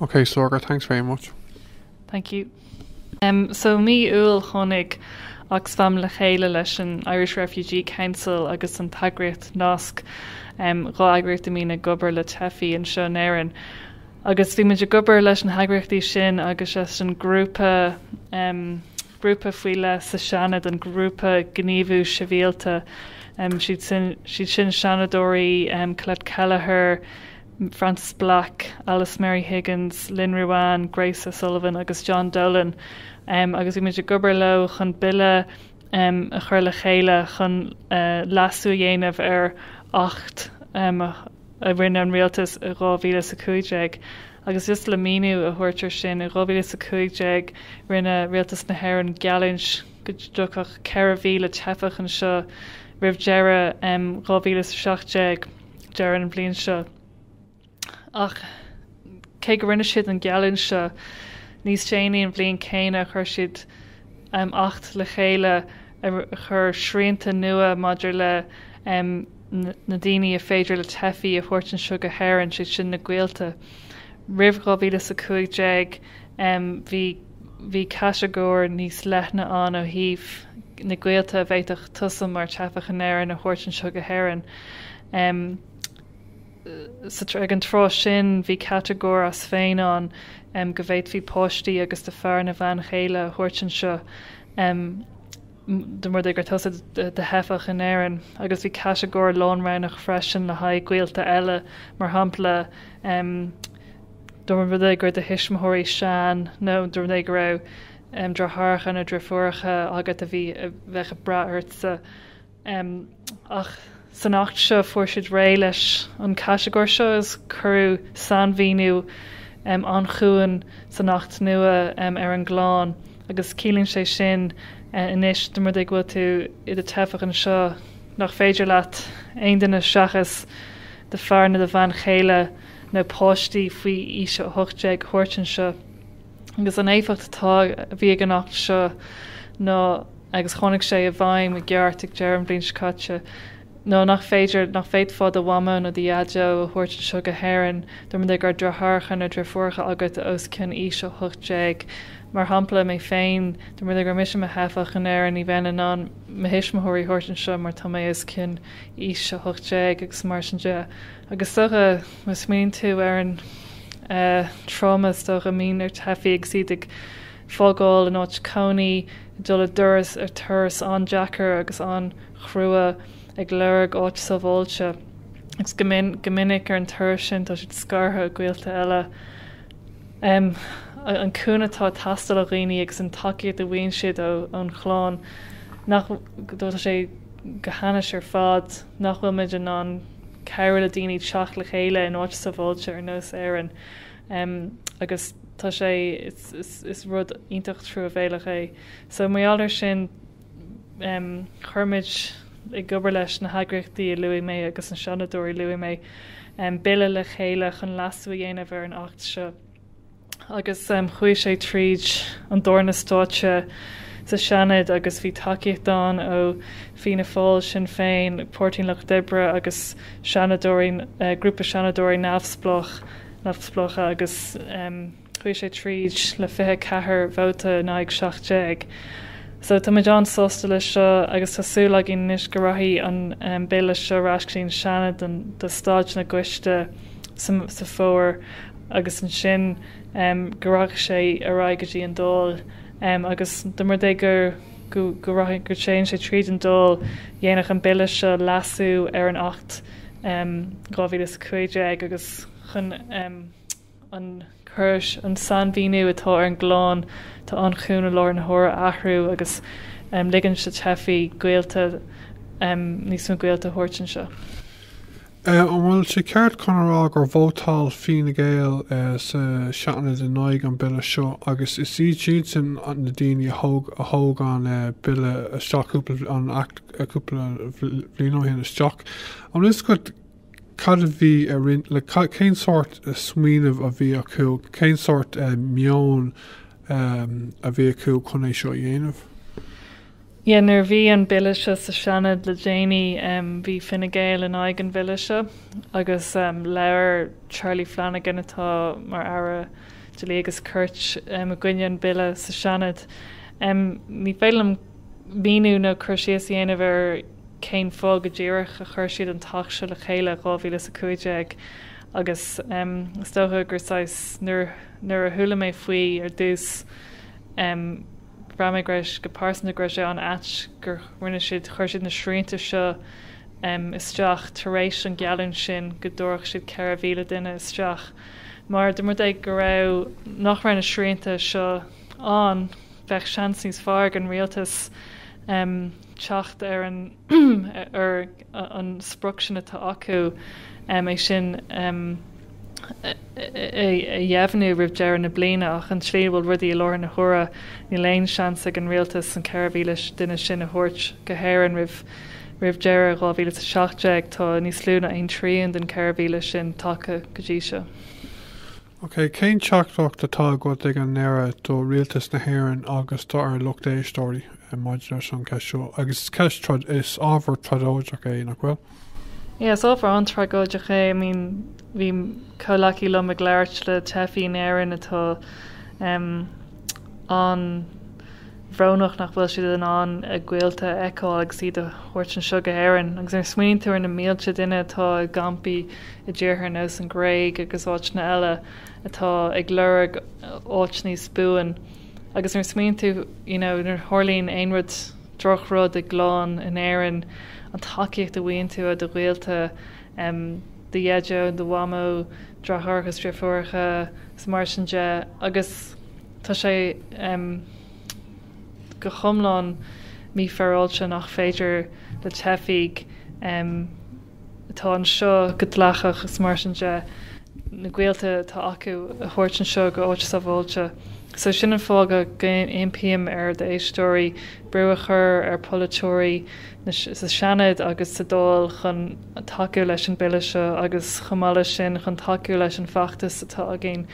Ok Sorcha thanks very much. Thank you. Um, so mí Iúil tháinig Oxfam le chéile leis an Irish Refugee Council agus an t-eagraíocht Nasc, um, dhá eagraíocht a mbíonn ag obair le teifigh anseo in Éirinn. Agus bhí muid ag obair leis na heagraíochtaí sin agus leis an grúpa, um, grúpa faoi leith sa Seanad, an Grúpa Gníomhú Sibhialta. Um, siad sin, siad sin Seanadóirí, um, Colette Kelleher, Frances Black, Alice Mary Higgins, Lynn Ruane, Grace O'Sullivan agus John Dolan, agus bhí muid ag obair leo chun Bille a chur le chéile chun leasú a dhéanamh ar Acht a rinne an Rialtas i 2015. Agus just le míniú a thabhairt air sin, i 2015 rinne Rialtas na hÉireann geallúint go dtiocfadh 4,000 teifeach anseo roimh deireadh 2017. deireadh an bhliain seo. Ach cé go rinne siad an geallúint seo níos déanaí an bhliain céanna, chuir siad um, acht le chéile a chuir srianta nua maidir le um, na daoine a féidir le teifigh a thabhairt anseo go hÉirinn sé sin na gaolta. Roimh 2015 um, bhí bhí catagóir níos leithne ann ó thaobh na gaolta a bhféadfadh tusa mar teifeach in Éirinn a thabhairt anseo go hÉirinn. Ag an tráth sin, bhí catagóir as féin ann go bhféadfaí páistí agus do fear nó bhean chéile a thabhairt anseo. dá mba rud é go raibh tusa i do theifeach in Éirinn, agus bhí catagóir lánroghnach freisin le haghaidh gaolta eile, mar shampla, dá mba rud é go raibh do thuismitheoirí sean nó dá mba rud é go raibh deartháireacha nó deirfiúracha agat a bhí ag brath ortsa. ach san Acht seo fuair siad réidh leis an chatagóir seo agus cuireadh sainmhíniú an-chúng san Acht nua ar an gclann agus ciallaíonn sé sin anois dá mba rud é go bhfuil tú i do theifeach anseo nach féidir leat aon duine seachas do fear nó do bhean chéile nó páistí faoi aois 18 a thabhairt anseo. agus an éifeacht atá a bhí ag an Acht seo ná, agus tháinig sé i bhfeidhm i gceart ag deireadh an bhliain seo caite, ná nach féidir, nach bhféadfá do mhamó nó do dhaideo a thabhairt anseo go hÉirinn, dá mba rud é go raibh deartháireacha nó deirfiúracha agat os cionn aois 18, mar shampla, mé féin, dá mba rud é go raibh mise i mo theifeach in Éirinn, ní bheinn in ann mo thuismitheoirí a thabhairt anseo mar tá mé os cionn aois 18, agus mar sin de. Agus is dócha. Má smaoiníonn tú ar an tráma is dócha a mbíonn ar theifigh agus iad ag fágáil in áit cónaí, ag dul i dtreo, ar turas an-deacair agus an-chrua, ag lorg áit sábháilte, agus go minic ar an turas sin tá siad scartha ó gaolta eile, an cúnamh atá ag teastáil ó dhaoine agus an tacaíocht a bhfaigheann siad ón chlann, nach bhfuil sé go hainnis ar fad, nach bhfuil muid in ann. cabhrú le daoine teacht le chéile in áit sábháilte ar nós Éirinn agus tá sé, is rud iontach truamhéalach é. So mar gheall ar sin, chuir muid, ag obair leis na heagraíochtaí a luaigh mé agus na Seanadóirí a luaigh mé, Bille le chéile chun leasú a dhéanamh ar an Acht seo. agus chuaigh sé tríd an tarna stáitse sa Seanad agus bhí tacaíocht ann ó Fianna Fáil, Sinn Féin, Páirtí an Lucht Oibre agus seanadóirí, grúpa seanadóirí neamhspleách, neamhspleácha agus chuaigh sé tríd le 24 vóta in aghaidh 17. So táimid an-sásta leis seo agus tá súil againn anois go rachaidh an Bille seo ar ais go dtí an Seanad don, do stáid na gCoiste sa, sa Fómhar. agus ansin go rachadh sé ar aghaidh go dtí an Dáil agus dá mba rud é go dtéann sé tríd an Dáil, dhéanfadh an Bille seo leasú ar an Acht 2015 agus chun an córas, an sainmhíniú atá ar an gclann atá ann faoi láthair a athrú agus ligean do theifigh, gaolta, níos mó gaolta a thabhairt anseo. An bhfuil sé ceart agam a rá gur vótáil Fine Gael sa Seanad in aghaidh an Bille seo agus is iadsan na daoine a thóg an Bille isteach cúpla, an Acht cúpla bhliain ó shin isteach. An bhfuil 'fhios agat cad a bhí ar intinn, cén sórt smaoineamh a bhí acu, cén sórt meon a bhí acu chun é seo a dhéanamh? Nuair a bhí an Bille seo sa Seanad le déanaí bhí Fine Gael in aghaidh an Bille seo agus labhair Charlie Flanagan atá mar Aire Dlí agus Cirt i gcoinne an Bille sa Seanad. Ní féidir liom míniú nó cur síos a dhéanamh ar cén fáth go díreach a chuir siad an tAcht seo le chéile i 2015 agus is dócha gur saghas nuair a chuala mé faoi ar dtús Bhraith mé go raibh, go pearsanta, go raibh sé an-ait gur rinne siad, chuir siad na srianta seo isteach tar éis an gheallúint sin go dtabharfadh siad 4,000 duine isteach mar, dá mba rud é go raibh, nach raibh na srianta seo ann, bheadh seans níos fearr ag an Rialtas teacht ar an. ar an sprioc sin atá acu, é sin a dheimhniú roimh deireadh na bliana, ach an tslí ina bhfuil rudaí i láthair na huaire, níl aon seans ag an Rialtas an 4,000 duine sin a thabhairt go hÉirinn roimh deireadh 2017. Tá níos lú ná aon trian den 4,000 sin tagtha go dtí seo. Ok, cén teachtaireacht atá agat ag an deireadh do Rialtas na hÉireann agus dár lucht éisteoirí maidir leis an cheist seo? Agus is ceist trád, is ábhar tragóideach é, nach bhfuil? Yeah, is ábhar an-tragóideach é. I mean, bhí comhleacaí liom ag labhairt le teifigh in Éirinn atá, um, an, bhrónach nach bhfuil siad in ann a gaolta a fheiceáil agus iad a thabhairt anseo go hÉirinn. Agus nuair a smaoiníonn tú ar na mílte duine atá i gcampaí i dtíortha ar nós an Ghréig agus áiteanna eile atá ag lorg áit níos buan agus nuair a smaoiníonn tú you know nuair a tharlaíonn aon rud droch rud i gclann in Éirinn an tacaíocht a fhaigheann tú ó do ghaolta em do dheaideo, do mhamó, deartháireacha is deirfiúracha 's mar sin de agus. Tá sé go hiomlán mífhéaráilte nach féidir le teifigh atá anseo go dleathach, is mar sin de, na gaolta atá acu a thabhairt anseo go áit sábháilte. So sin an fáth go n-impím ar do éisteoirí brú a chur ar pholaiteoirí sa Seanad agus sa Dáil chun tacú leis an Bille seo agus chomh maith leis sin chun tacú leis an bhfeachtas atá againn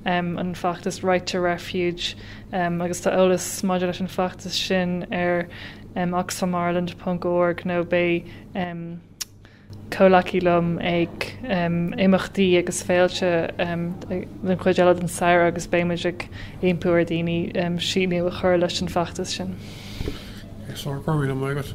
an feachtas Right to Refuge agus tá eolas maidir leis an feachtas sin ar oxfamireland ponc org nó beidh comhleacaí liom ag imeachtaí agus féilte den chuid eile den samhradh agus beidh muid ag impí ar dhaoine síniú a chur leis an bhfeachtas sin. Ag sár, go raibh míle maith agat.